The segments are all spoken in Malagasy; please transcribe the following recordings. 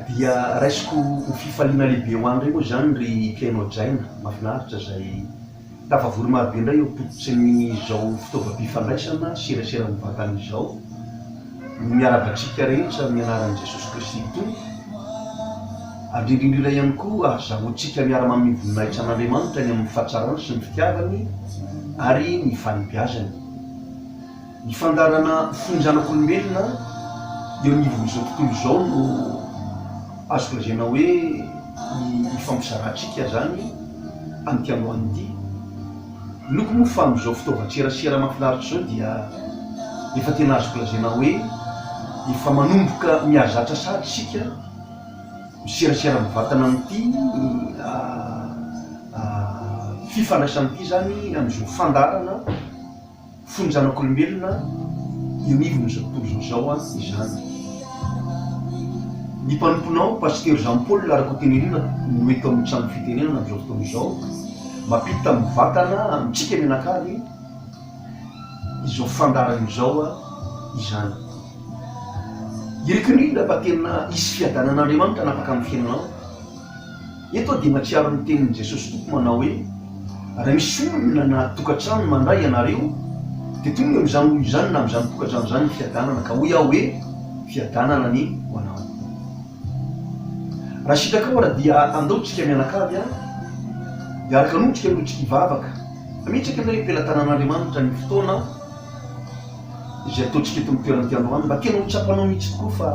Dia raisiko ho fifaliana lehibe ho anareo moa izany ry mpihaino hajaina mahafinaritra izay tafavory marobe indray eo am-pototsin'izao fitaovam-pifandraisana serasera mivantana izao. no miarahaba antsika rehetra amin'ny anaran'i Jesosy Kristy Tompo. Andriana indrindra ihany koa ahazahoantsika miara-mamehy voninahitra an'Andriamanitra ny amin'ny fahatsarany sy ny fitiavany ary ny fanabeazany. Ny fandaharana fo ny zanak'olombelona eo anivon'izao tontolo izao no azoko lazaina hoe ifampizarantsika izany amin'ity androany ity. Loko moa fa amin'izao fitaovan-tserasera mahafinaritra izao dia efa tena azoko lazaina hoe efa manomboka mihazatra sahatra isika miserasera mivatana amin'ity fifandraisana ity izany amin'izao fandaharana Fony zanak'olombelona eo anivon'izao tontolo izao izao izany. Ny mpanomponao, Pasitera Jean Paul Rakotonirina no eto amin'ny trano fitenenana amin'izao fotoana izao, mampita mivantana amintsika mianakavy izao fandaharana izao izany. Iriko indrindra fa tena hisy fiadanan'Andriamanitra hanapaka ny fiainanao. Eto aho dia mahatsiaro ny tenin'i Jesosy Tompo manao hoe, Raha misy olona na tokantrano mandà ianareo, dia tonga eo amin'izany olona izany na amin'izany tokantrano izany ny fiadanana, ka hoy aho hoe, Fiadanana anie ho anao. Raha sitrakao ary dia andao tsika mianakavy ary dia araka an'otrika no tsika hivavaka. Ametraka indray eo am-pelatanan'Andriamanitra ny fotoana. izay ataontsika eto amin'ny toeran'ity androany mba tena ho tsapanao mihitsy tokoa fa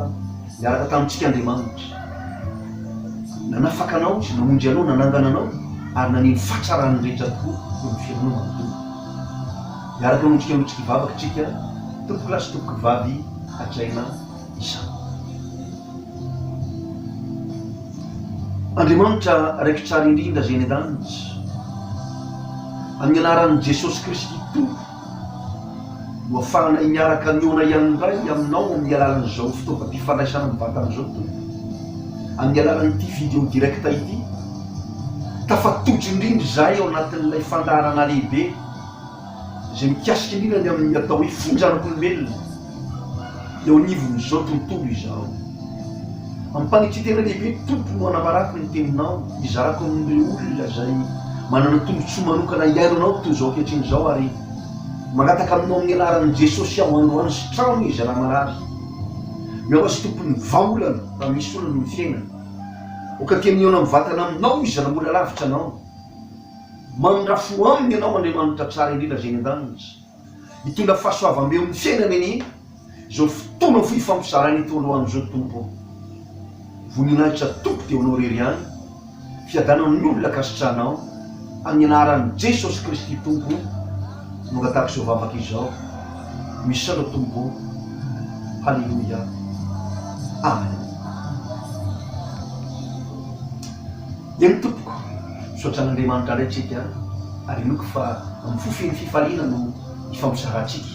niaraka tamintsika Andriamanitra. Nanafaka anao Izy, namonjy anao, nanangana anao ary naneno fahatsarany rehetra tokoa eo amin'ny fiainanao manontolo. Miaraka amintsika mitsiky vavaka isika, tompokolahy sy tompokovavy hajaina izany. Andriamanitra Raiko Tsara Indrindra izay any an-danitra, amin'ny anaran'i Jesosy Kristy Tompo, Ho afahanay miaraka mihaona ihany indray aminao amin'ny alalan'izao fitaovam-pifandraisana mivantana izao Tompo, amin'ny alalan'ity video direct ity. Tafatotra indrindra izahay ao anatin'ilay fandaharana lehibe izay mikasika indrindra ny amin'ny atao hoe fonjanak'olombelona. eo anivon'izao tontolo izao. Amim-panitia tena lehibe, Tompo, no anambarako ny Teninao, hizarako amin'ireo olona izay manana tombontsoa manokana hihaino Anao toy izao ankehitriny izao, ary mangataka Aminao amin'ny anaran'i Jesosy aho, androany sy trano izy raha marary. Miahoa azy Tompo ny vahaolana raha misy olana amin'ny fiainany. Aoka te mihaona mivantana Aminao izy raha mbola lavitra Anao. Mamindrafo aminy Ianao, Andriamanitra tsara indrindra izay eny an-danitra. Mitondra fahasoavam-be eo amin'ny fiainana anie izao fotoana fohy fampizarana itony roandro izao Tompo ô! Voninahitra Tompo dia ho Anao irery ihany, fiadanan'ny olona ankasitrahanao, amin'ny anaran'i Jesosy Kristy Tompo o! Mangataka izao vavaka izao, misaotra Tompo ô! Haleloia! Amen. Eny tompoko, misaotra an'Andriamanitra indray tsika ary inoako fa amin'ny fo feno fifaliana no hifampizarantsika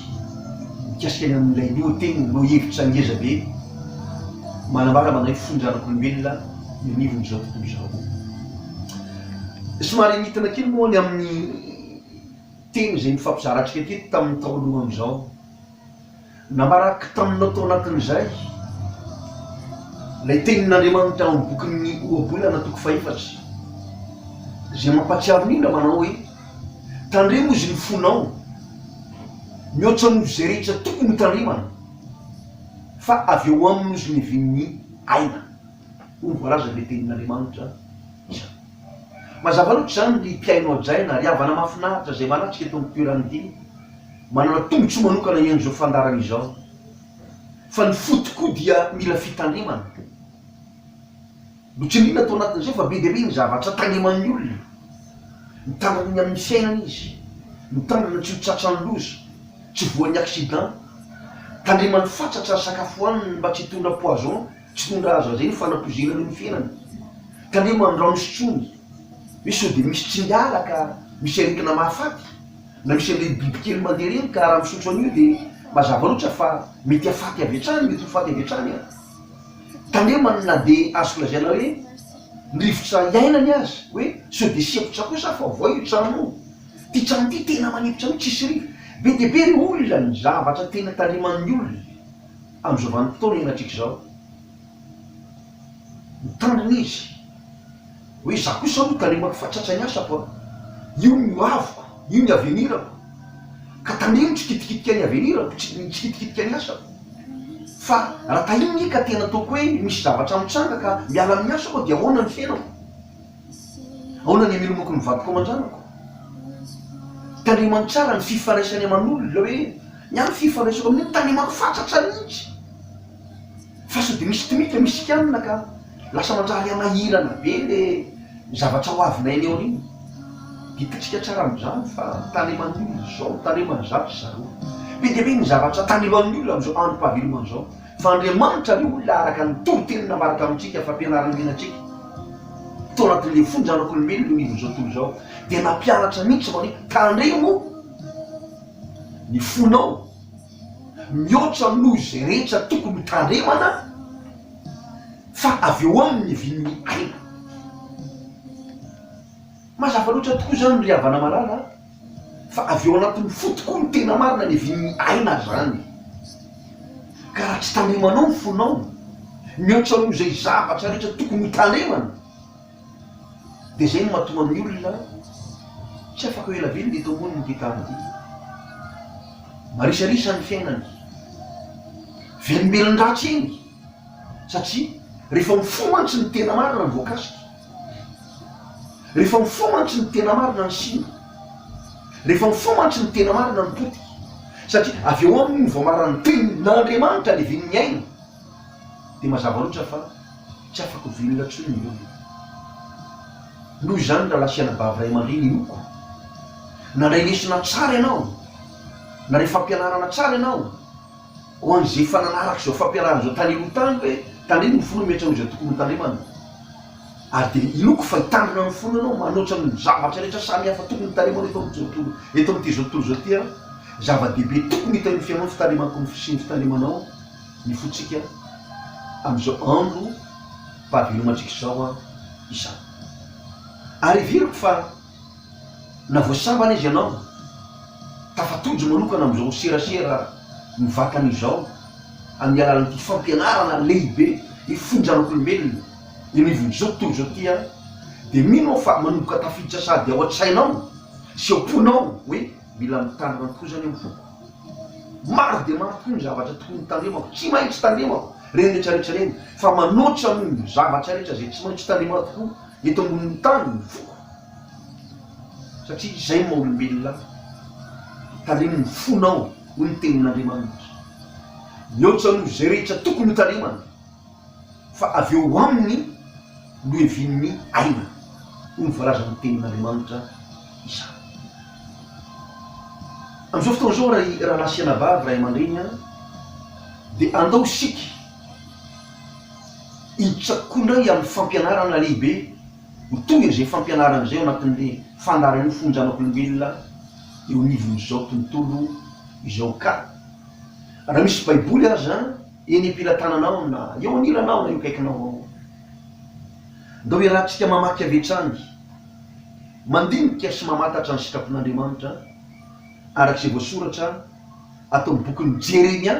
mikasika ny amin'ilay lohoteny lohahevitra ngeza be manambara manahy fo ny zanak'olombelona eo anivon'izao tontolo izao. Somary nitana kely moa ny amin'ny teny izay nifampizarantsika teto tamin'ny tao aloha amin'izao. Namarako taminao tao anatin'izay ilay tenin'Andriamanitra ao amin'ny bokin'ny Ohabolana toko fahefatra, izay mampahatsiaro ny olona manao hoe, Tandremo izy ny fonao, mihoatra noho izay rehetra tokony hotandremana, fa avy ao aminy izy no iavian'ny aina. Hoy ny voalazan'ilay tenin'Andriamanitra izany. Mazava loatra izany, ry mpihaino hajaina, ry havana mahafinaritra izay manatrika eto amin'ny toeran'ity. Manana tombotsoa manokana iany izao fandaharana izao fa ny fo tokoa dia mila fitandremana. Notsindriana tao anatin'izay fa be dia be ny zavatra tandreman'ny olona. Mitandrina ny amin'ny fiainana izy, mitandrina tsy ho tratran'ny loza, tsy voan'ny accident. Tandremany fatratra ny sakafo hoaniny mba tsy hitondra poison, tsy hitondra azy azy eny fanapoizinana eo ny fiainany. Tandremany ny rano isotroany hoe sao dia misy tsingalaka, misy aretina mahafaty. Nareo sy an'ireny bibikely mandeha ireny ka raha misotro an'io dia mazava loatra fa mety hafaty avy hatrany, mety ho faty avy hatrany an! Tandremana na dia azoko lazaina hoe ny rivotra iainany aza hoe sao dia sy efitra kosa aho fa voay io trano io! Ity trano ity tena manefitra mihitsy tsisy rivo! Be dia be ry olona ny zavatra tena tandreman'ny olona amin'izao vanim-potoana iainatrika izao. Nitandrina izy hoe, Izaho kosa aloha talemako fa tratra ny asako an! Io ny ho aviko, io ny avenirako. Ka tamin'io ny tsikitikitika ny avenirako, ny tsikitikitika ny asako. Fa raha tahin'ny ahy ka tena ataoko hoe misy zavatra mitranga ka miala amin'ny asako aho dia ahoana ny fiainako? Ahoana ny hamelomako ny vadiko aman-janako? Tandremany tsara ny fifandraisany aman'olona hoe, Ny ahy ny fifandraisako amin'io, talemako fa tratra mihitsy! Fa sao dia misy tmika misy scanne ka lasa manjary hanahirana be le zavatra ho avinay any aoriana. Dikantsika tsara amin'izany fa taneman'ny olona izao, taneman'ny zandry ry zareo. Be dia be ny zavatra taneman'ny olona amin'izao androm-pahavelomana izao. Fa Andriamanitra ve olona araka ny toriteny navaratra amintsika fa ampianariny mihitsy antsika? Tao anatin'ilay fony zanak'olombelona io anivon'izao tontolo izao dia nampianatra mihitsy fa hoe tandremo ny fonao. Mihoatra noho izay rehetra tokony ho tandremana fa avy eo aminy ny vin'ny aina. Mazava loatra tokoa izany ry havana malala a! Fa avy ao anatin'ny fo tokoa ny tena marina ny vin'ny aina izany. Ka raha tsy tandremanao ny fonao, mihoatra noho izay zavatra rehetra tokony ho tandremana, Dia izay no mahatonga ny olona tsy afaka ho ela velona eto ambonin'ity tany ity. Marisarisa ny fiainany. Velombelon-dratsy eny satria rehefa mifoha mantsy ny tena marina ny voakasika. Rehefa mifoha mantsy ny tena marina ny simba. Rehefa mifoha mantsy ny tena marina ny potika. Satria avy eo aminy no voamaran'ny tenin'Andriamanitra aleven'ny ainy. dia mazava loatra fa tsy afaka velona intsony ny olona. Noho izany rahalahy sy anabavy ray aman-dreny inoako, nandray lesona tsara ianao, nandray fampianarana tsara ianao, ho an'izay efa nanaraka izao fampianarana izao tany aloha tany hoe tandremo ny fo no miantsa an'izay tokony ho tandremana. Ary dia inoako fa hitandrina ny fonao ianao manoatra ny zavatra rehetra samy hafa tokony hitaremanao eto amin'ity tontolo, eto amin'ity izao tontolo izao ity an! Zava-dehibe tokony hita eo amin'ny fiainanao ny fitandremanao sy ny fitandremanao. ny fontsika amin'izao andro mpahavelomantsika izao izany. Ary heveriko fa na voasambana izy ianao, tafatojo manokana amin'izao serasera mivatana izao amin'ny alalan'ity fampianarana lehibe hifono zanak'olombelona eny anivon'izao tontolo izao ity dia mino aho fa manomboka tafiditra sady ao an-tsainao sy ao am-ponao hoe, Mila mitandrina tokoa izany amin'ny foko. Maro dia maro tokoa ny zavatra tokony hitandremako, tsy maintsy tandremako ireny rehetra rehetra ireny, fa manoatra amin'ny zavatra rehetra izay tsy maintsy tandremana tokoa eto ambonin'ny tany ny foko, satria izay ny maha olombelona ahy, tandremo ny fonao hoy ny tenin'Andriamanitra, mihoatra noho izay rehetra tokony hotandremana. fa avy eo ho amin'ny lohevian'ny aina, hoy ny voalazan'ny Tenin'Andriamanitra izany. Amin'izao fotoana izao, ry rahalahy sy anabavy, ray aman-dreny an, dia andao isika hiditra kokoa indray amin'ny fampianarana lehibe ho toy an'izay fampianarana izay ao anatin'ilay fandaharan'io fonon-janak'olombelona eo anivon'izao tontolo izao ka. Raha misy Baiboly aza, Eny am-pelatananao na eo anilanao na eo akaikinao ao. Andao iarahantsika mamaky avy hatrany, mandinika sy mamantatra ny sitrapon'Andriamanitra araka izay voasoratra ato amin'ny bokin'i Jeremia,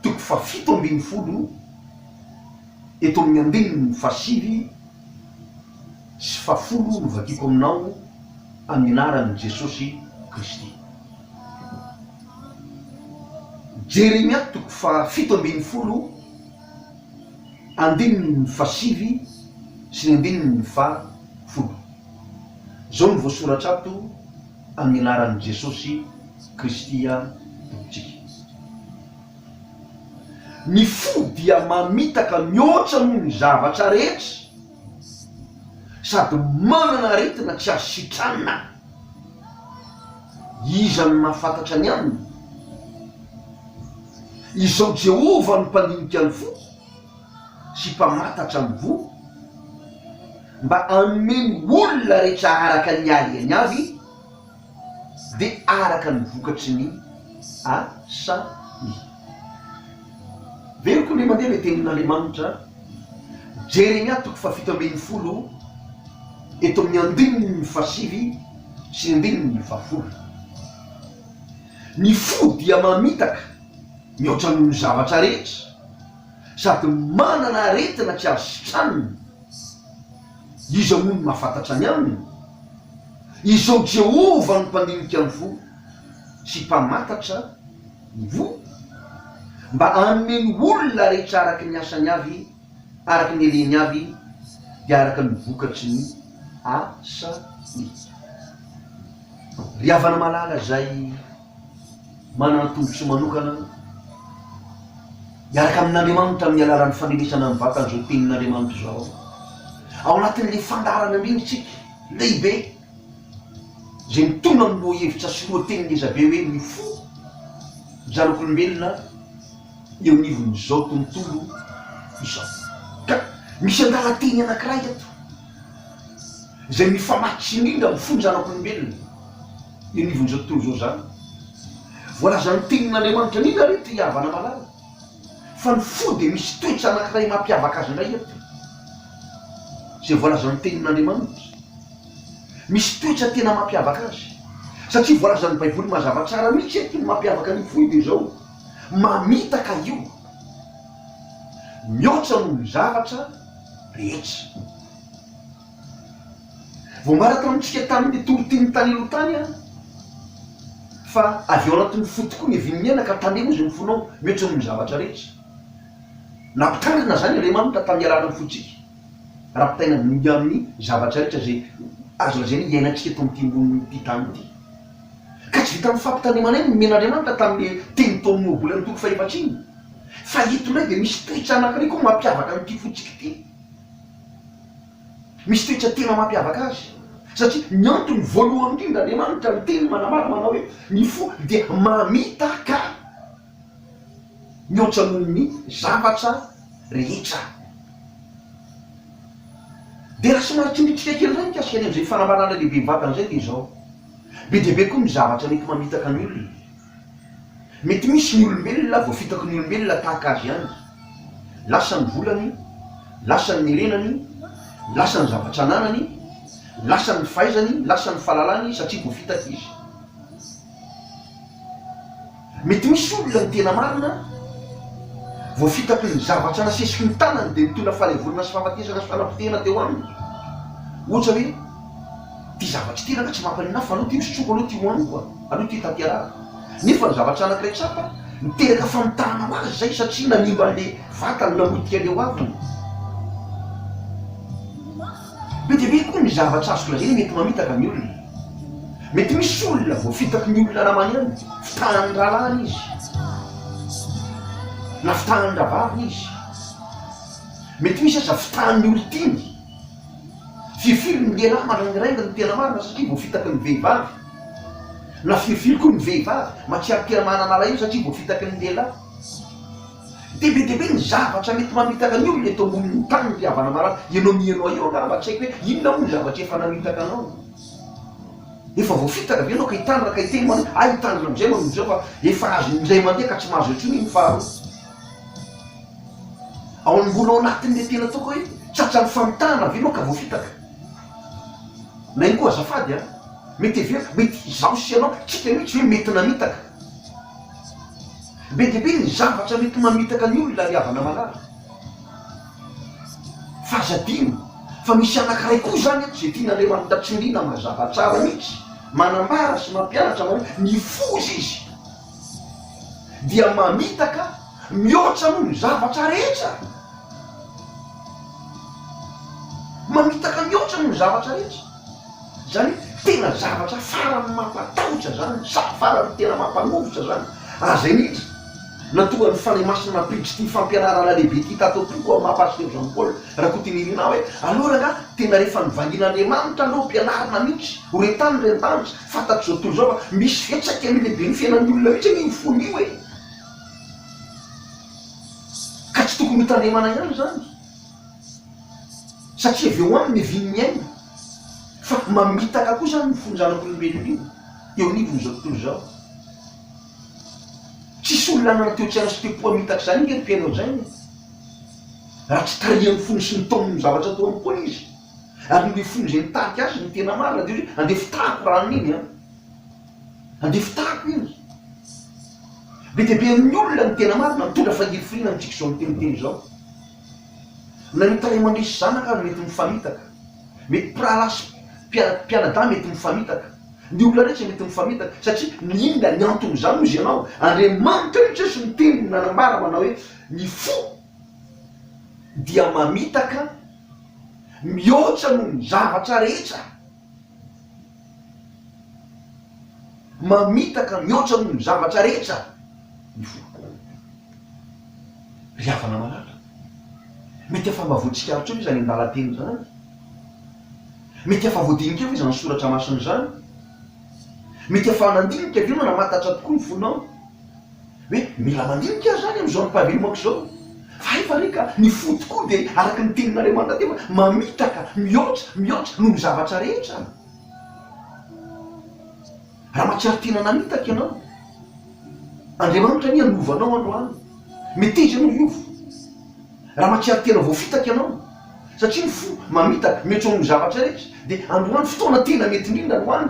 toko fahafito ambin'ny folo, eto amin'ny andininy fahasivy sy fahafolo no vakiako aminao amin'ny anaran'i Jesosy Kristy. Jeremia toko fahafito ambin'ny folo andininy fahasivy sy ny andininy fahafolo. Izao no voasoratra ato amin'ny anaran'i Jesosy Kristy Tompontsika. Ny fo dia mamitaka mihoatra noho ny zavatra rehetra. sady manana aretina tsy azo sitranina. Iza no mahafantatra ny aminy? Izao Jehovah no mpandinika ny fo sy mpamatatra ny voa, mba hanome ny olona rehetra araka ny haliany avy, dia araka ny vokatry ny asany. Very koa ve mandeha ilay tenin'Andriamanitra? Jeremia toko fahafito ambin'ny folo eto amin'ny andininy fahasivy sy ny andininy fahafolo. Ny fo dia mamitaka mihoatra noho ny zavatra rehetra sady manana aretina tsy azo sitranina. Iza moa no mahafantatra ny aminy? Izao Jehovah no Mpandinika ny fo sy Mpamantatra ny voa, mba hanome ny olona rehetra araka ny asany avy, araka ny reny avy, dia araka ny vokatry ny asany. Ry havana malala izay! Manana ny tombotsoa manokana aloha. Miaraka amin'Andriamanitra amin'ny alalan'ny fanenesana amin'ny vatana izao tenin'Andriamanitra izao. Ao anatin'ilay fandaharana indrindra isika, lehibe, izay mitondra amin'ny lohahevitra sy lohateny ngeza be hoe ny fo, ny zanak'olombelona eo anivon'izao tontolo izao. Ka misy andalan-teny anankiray eto izay mifamatsy indrindra amin'ny fon'ny zanak'olombelona. Io anivon'ny zao tontolo zao zany. Voalazan'ny tenin'Andriamanitra nina ary io te hihavana malala. Fa ny fo dia misy toetra anankiray mampiavaka azy indray eto. Izay voalazan'ny tenin'Andriamanitra. Misy toetra tena mampiavaka azy. Satria voalazan'ny baiboly mazava tsara mihitsy eto ny mampiavaka an'io fo io dia izao, mamitaka io. Mihoatra noho ny zavatra rehetra. Voambaratra amintsika tamin'ny torotian'ny tany aloha tany fa avy ao anatin'ny fo tokoa ny vin'ny aina ka tandremo izay mifonao mihoatra noho ny zavatra rehetra. Nampitandrina izany Andriamanitra tamin'ny alalan'ny fontsika rapitaina mihoa amin'ny zavatra rehetra izay azo lazaina hoe iainantsika eto amin'ity ambonin'ity tany ity. Ka tsy vitan'ny fampitandremana ihany ny nomen'Andriamanitra tamin'ilay teny tao amin'ny Moabole amin'ny toko fahefatr-iny fa eto indray dia misy toetsa anankiray koa mampiavaka an'ity fontsika ity. Misy toetra tena mampiavaka azy, satria ny antony voalohany indrindra Andriamanitra miteny manambara manao hoe ny fo dia mamitaka mihoatra noho ny zavatra rehetra. Dia raha somary tsindritrintsika kely indray mikasika ny amin'izay fanambarana lehibe mivantana izay dia izao, be dia be koa ny zavatra mety mamitaka ny olona. Mety misy ny olombelona voafitaky ny olombelona tahaka azy ihany. Lasa ny volany, lasa ny nirenany, lasa ny zavatra ananany, lasa ny fahaizany, lasa ny fahalalany satria voafitaky izy. Mety misy olona ny tena marina voafitaky ny zavatra nasesiky ny tanany dia nitondra fahalevorana sy fahafatesana sy fanapotehana teo aminy. Ohatra hoe. Ity zavatra ity rangahy tsy mampalina ahy fa aloha ity hosotroiko aloha ity hohaniko a! Aloha ity hitanterahako. Nefa ny zavatra anankiray tsapa, niteraka famitahana ho azy izay satria nanimba an'ilay vatany namotika an'ilay hoaviny. Be dia be koa ny zavatra azoko lazaina mety mamitaka ny olona. Mety misy olona voafitaky ny olona namany ihany, fitahan'ny rahalahiny izy na fitahan'ny rahavaviny izy. Mety misy aza fitahan'ny olon-tiany. Firifiry ny lehilahy maraindrainga no tena marina satria voafitaky ny vehivavy, na firifiry koa ny vehivavy mahatsiaro tena manana alahelo satria voafitaky ny lehilahy. Dia be dia be ny zavatra mety mamitaka ny olona eto ambonin'ny tany ry havana malala. Ianao mihainoa io angamba tsy haiko hoe inona moa ny zavatra efa namitaka anao. Efa voafitaka ve ianao ka hitandrina ka hiteny ianao hoe hay hitandrina amin'izay ianao noho izao fa efa azon'ny iray mandeha ka tsy mahazo intsony iny faharoa. Ao am mbola ao anatin'ilay tena ataoko hoe tratran'ny famitahana ve ianao ka voafitaka? Na ihany koa azafady a! mety heveriko mety izaho sy ianao tsika mihitsy ve mety namitaka? Be dia be ny zavatra mety mamitaka ny olona ry havana malala. Fa aza adino fa misy anankiray koa izany eto izay tian'Andriamanitra tsindriana mazava tsara mihitsy, manambara sy mampianatra anao hoe mifoza izy. dia mamitaka mihoatra noho ny zavatra rehetra. Mamitaka mihoatra noho ny zavatra rehetra. Izany hoe tena zavatra farany mampatahotra izany, farany tena mampanovotra izany. Ary izay mihitsy na tonga ny Fanahy Masina nampiditra ity fampianarana lehibe ity tato am-poko aho, maha Pasitera Jean Paul Rakotonirina ahy hoe, aleo rangahy, tena rehefa nivangian'Andriamanitra aloha ampianarina mihitsy, ho re tany re an-danitra. Fantatr'izao tontolo izao fa misy fiantraikany lehibe ny fiainan'ny olona mihitsy anie io fony io e! Ka tsy tokony hotandremana ihany izany satria avy eo aminy ny vin'ny aina fa mamitaka koa izany ny fon'ny zanak'olombelona io eo anivon'izao tontolo izao. Tsisy olona hanana toe-tsaina sy te-po hamitaka izany ange ry mpihaino an'izany e! Raha tsy tarihan'ny fony sy ny taoniny ny zavatra ataony koa izy. Ary ireo fony izay nitarika azy no tena marina, dia hoe andeha fitahako rano iny an! Andeha fitahako iny! Be dia be amin'ny olona ny tena marina, mitondra fahirifiriana amintsika izao miteniteny izao. Na ny tarehy mandresy zanaka aza mety mifamitaka. Mety mpirahalahy sy mpianadahy mety mifamitaka. Ny olona rehetra mety mifamitaka. Satria ny inona ny anton'izany? Hoy ianao, Andriamanitra io Jeso niteny nanambara manao hoe ny fo dia mamitaka. Mihoatra noho ny zavatra rehetra. Mamitaka mihoatra noho ny zavatra rehetra ny foko. Ry havana malala, mety efa mba voatsikaritra eo ve izany andalan-teny izany? Mety efa voadinika eo ve izany soratra masina izany? Mety efa nandinika ve manamantatra tokoa ny fonao? Hoe mila mandinika aho zany amin'izao ny mpavelomakko izao? Hay fa re ka ny fo tokoa dia araka ny tenin'Andriamanitra dia efa mamitaka mihoatra mihoatra noho ny zavatra rehetra. Raha mahatsiaro tena namitaka ianao, Andriamanitra anie hanova anao androany. Meteza ianao hiova raha mahatsiaro tena voafitaka ianao, satria ny fo mamitaka mihoatra noho ny zavatra rehetra, dia androany fotoana tena mety indrindra androany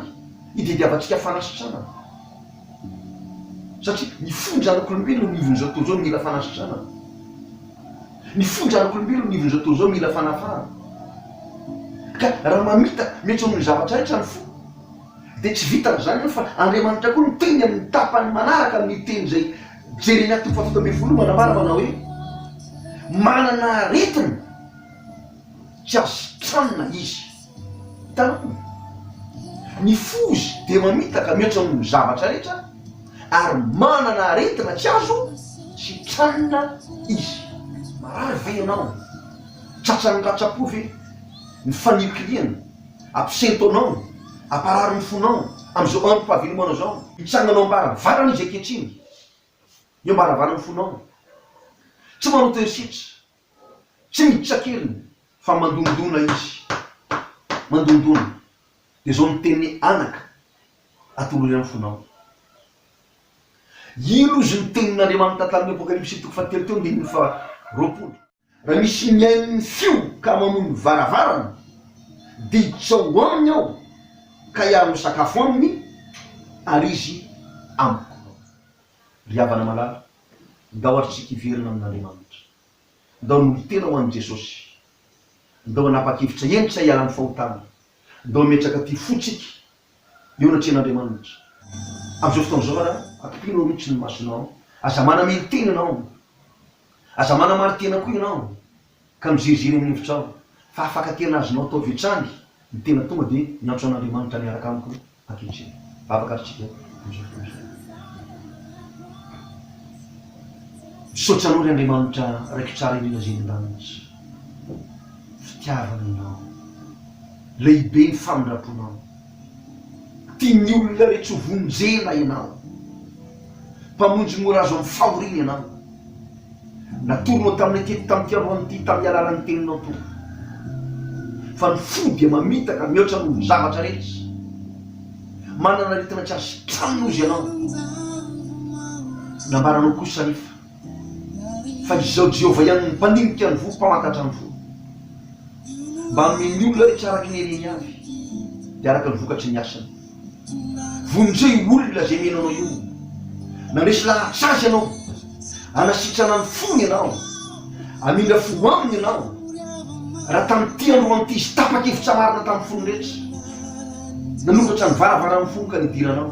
hitediavantsika fanasitranana. Satria ny fonjanak'olombelona eo anivon'izao tontolo izao mila fanasitranana. Ny fonjanak'olombelona eo anivon'izao tontolo izao mila fanafahana. Ka raha mamita miantso amin'ny zavatra rehetra ny fo, dia tsy vitan'ny izany eo fa Andriamanitra koa miteny amin'ny tapany manaraka amin'ny teny izay jeren'Ahy toko fahafito ambin'ny folo manambara manao hoe, Manana aretina tsy asitrana izy. Taminy, ny fozy dia mamitaka mihoatra noho ny zavatra rehetra ary manana aretina tsy azo sitranina izy. Marary ve ianao? Tratran'ny ratsa-po ve ny fanilikilihana? Absento anao? Aparary ny fonao amin'izao androm-pahavelomanao izao? Mitsangana ao am-baravarana izy ankehitriny, eo am-baravaran'ny fonao. Tsy manao toe-setra. Tsy miditra kely fa mandondona izy, mandondona. Dia izao ny teniny, Anaka, atolory amin'ny fonao. Ilo izy ny tenin'Andriamanitra tamin'ny Apokalypsy toko fahatelo teo andininy faharoapolo. Raha misy mihaino ny feo ka mamoy ny varavarana, diditra ho aminy aho ka hiaro ny sakafo aminy, ary izy amiko. Ry havana malala. Ndao azotsika hiverina amin'Andriamanitra. Ndao hanolotena ho an'i Jesosy. Ndao hanapa-kevitra hentitra hiala amin'ny fahotana. Ndao hametraka ity fotsika eo anatrehan'Andriamanitra. Amin'izao fotoana izao ara, akipino aloha tsy ny masonao. Aza manamely tena ianao. Aza manamari-tena koa ianao. ka miziriziry eny an'efitrano, fa afaka tena azonao atao avy hatrany ny tena tonga dia miantso an'Andriamanitra miaraka amiko ankehitriny. Vavaka ary tsika amin'izao fotoana izao. Misaotra anao ry Andriamanitra Raiko tsara indrindra izay eny an-danitra. Fitiavana ianao. Lehibe ny famindramponao. Tian'ny olona rehetra ho vonjena ianao. Mpamonjy mora azo amin'ny fahoriana ianao. Natoronao taminay teto tamin'ny fiaroany ity tamin'ny alalan'ny Teninao, Tompo. Fa ny fo dia mamitaka mihoatra noho ny zavatra rehetra. Manana aretina tsy azo sitranin'ozy ianao. Nambaranao kosa anefa. Fa izao Jehovah ihany no Mpanindikan' ny voa, Mpamantantra ny voa. Mba hanome ny olona rehetra araka ny hereny avy, dia araka ny vokatry ny asany. Vonjeo io olona izay mino anao io. Nandresy lahatra azy ianao. Hanasitrana ny fony ianao. Hamindra fo aminy ianao. Raha tamin'ity andro ho an'ity izy tapa-kevitra marina tamin'ny fony rehetra. Nanokatra ny varavaran'ny fony ka nidiranao.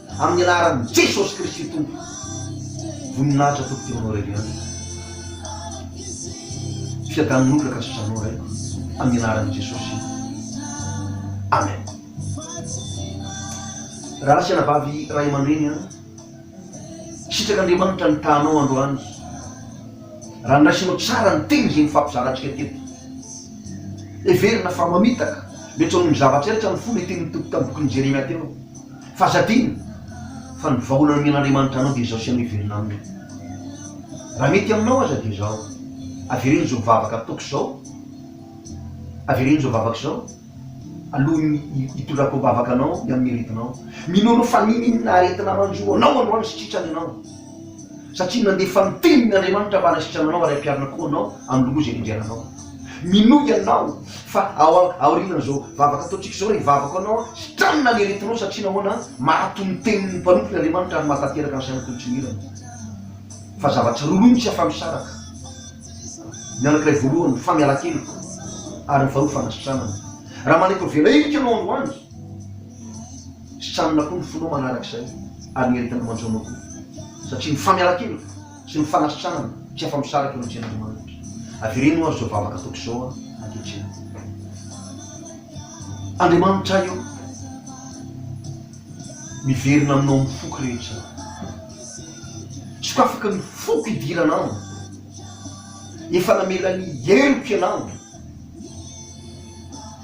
Amin'ny anaran'i Jesosy Kristy Tompo. Voninahitra Tompo Ty Honoré Leon. Fiadanon'olona ka tsy Janoro eh. Amin'ny anaran'i Jesosy. Amen. Ratsy anabavy ray amandreny an! Sitraka Andriamanitra ny tahanao androany raha niraisinao tsara ny teny izay nifampizarantsika teto. Heverina fa mamitaka, metso amin'ny zavatra rehetra ny fo ilay tenin'ny Tompo tamin'ny bokin'i Jeremia teo. Fa aza adino fa ny vahaolana nomen'Andriamanitra anao dia izao sy anao hiverina aminy. Raha mety aminao aza dia izao, avereno izao vavaka ataoko izao, avereno izao vavaka izao alohan'ny hitondrako am-bavaka anao ny amin'ny aretinao. Mino anao fa nino inona aretina manjo anao androany sy tritran'ny anao. Satria nandefa ny Tenin' Andriamanitra mba hanasitrana anao ary hampiharina koa anao amin'ny loza izay nendrena anao. Minoa ianao fa ao aorianan'izao vavaka ataontsika izao, hivavaka ho anao aho, sitranina ny aretinao, satria nahoana? Mahato ny Tenin'ny Mpanompony Andriamanitra ary mahatanteraka ny sainao toy ny tsy nihirana. Fa zavatra roa mihitsy aho fa misaraka, ny anankiray voalohany, ny famialan-keloka, ary ny faharoa, fanasitranana. Raha manaiky ho velahirika ianao androany, Sitrana koa ny fonao manaraka izay ary ny heritanao manjono koa satria ny famiaran-keloka sy ny fanasitranana tsy afa-misaraka eo amin'ny Tenin'Andriamanitra. Avereno ho'a Ry izao vavaka ataoko izao aho ankehitriny. Andriamanitra ahy ô, miverina aminao ny foko rehetra. Sokafako ny foko hidirana aminy. Efa namela ny heloko ianao.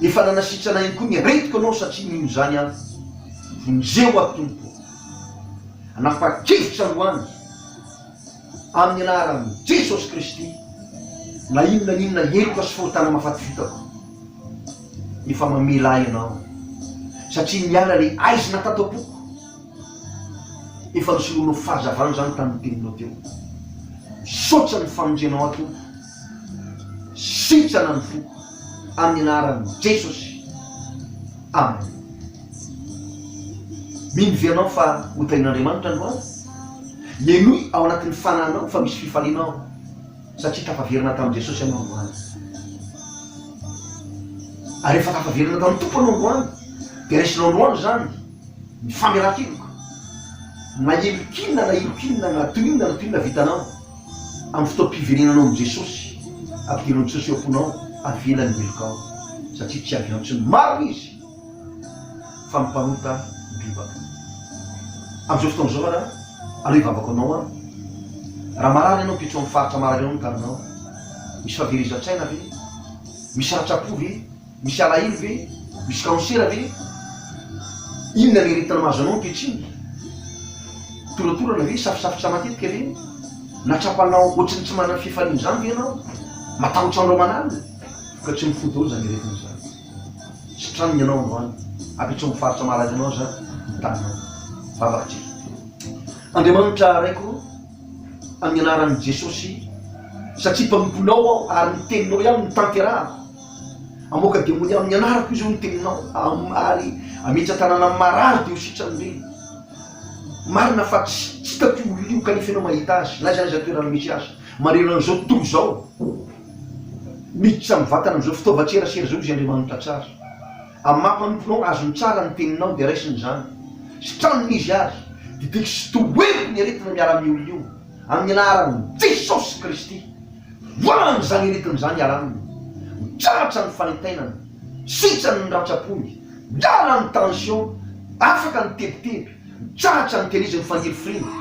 Efa nanasitrana ihany koa ny aretiko anao satria mino izany aho. Vonjeo aho Tompo ô. Hanapa-kevitra androany amin'ny anaran'i Jesosy Kristy na inona na inona heloka sy fahotana mahafaty vitako. Efa mamela ahy ianao satria niala ilay aizina tato am-poko. Efa nosoloanao fahazavana izany tamin'ny teninao teo. Misaotra ny famonjenao ahy Tompo. Sitrana ny foko amin'ny anaran'i Jesosy. Amen. Mino ve ianao fa ho tahian'Andriamanitra androany? Henoy ao anatin'ny fanahinao fa misy fifaliana ao satria tafaverina tamin'i Jesosy ianao androany. Ary rehefa tafaverina tamin'ny Tompo ianao androany dia raisinao androany izany ny famelakeloka na heloka inona na heloka inona na toy inona na toy inona vitanao. Amin'ny fotoam-piverenanao amin'i Jesosy, averin'i Jesosy eo am-ponao fa avela ny heloka ao, satria tsy avy antso ny maro Izy, fa ny mpanota bebaka. Amin'izao fotoana izao ara, aleo hivavaka ho anao aho. Raha marary ianao, ampitso amin'ny faritra marary ao ny taninao. Misy fahaverezan-tsaina ve? Misy ratram-po ve? Misy alahelo ve? Misy kansera ve? Inona ny aretina mahazo anao ankehitriny? Toratorana ve? Safosafotra matetika ve? Na tsapanao ohatry ny tsy manana fifaliana izany ve ianao? Matahotra andro aman'alina? Vokatry ny fo daholo izany aretina izany. Sitranina ianao androany. Ampitso amin'ny faritra malaza anao izany ny taninao. Vavaka isika. Andriamanitra Raiko ô, amin'ny anaran'i Jesosy, satria mpanomponao aho ary ny Teninao ihany no tanterahako, Hamoaka demonia amin'ny anarako izy hoy ny teninao, ary hametra tanàna marary dia ho sitrany be. Marina fa tsy hitako io olona io, kanefa ianao mahita azy, na aiza na aiza ny toerana misy azy. Manerana an'izao tontolo izao, miditra amin'ny vatana amin'izao fitaovan-tserasera izao izy, Andriamanitra tsara. Amin'ny maha mpanomponao azy no tsara ny teninao dia raisiny izany sy tranony izy ary didiky sy tohery ny aretina miaran'ny olona io amin'ny anaran'i Jesosy Kristy. Voahany izany aretina izany hiala aminy. Mitsahatra ny fanentenana, sitrany ny rantsa-pony, miala ny tension, afaka ny tebiteby, mitsahatra ny dialyse ny fangirifiriana,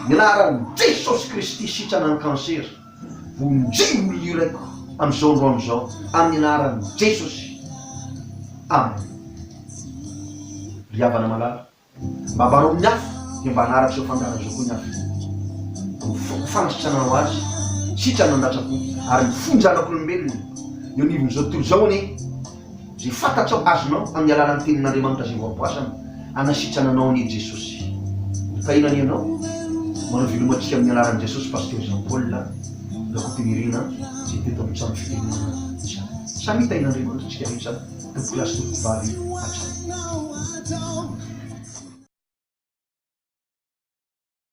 ny anaran'i Jesosy Kristy sitrana ny cancer. Vonjeo ny hirako amin'izao androany izao amin'ny anaran'i Jesosy. Amen. Ry havana malala, mba ambaro amin'ny hafa dia mba hanaraka izao fandaharana izao koa ny hafa. Ny foko fanasitranana ho azy, sitrana nandatsa-po, ary mifonja anak'olombelona eo anivon'izao tontolo izao anie. Izay fantatrao azonao amin'ny alalan'ny Tenin'Andriamanitra izay voaboazana hanasitrana anao anie Jesosy. Hotahiana anie anao. Manao velomantsika amin'ny anaran'i Jesosy Pasteur Jean Paul Rakotonirina izay teto amin'ny trano fitenenana izany. Samia tahin'Andriamanitra tsika rehetra tompokolahy sy tompokovavy hatrany.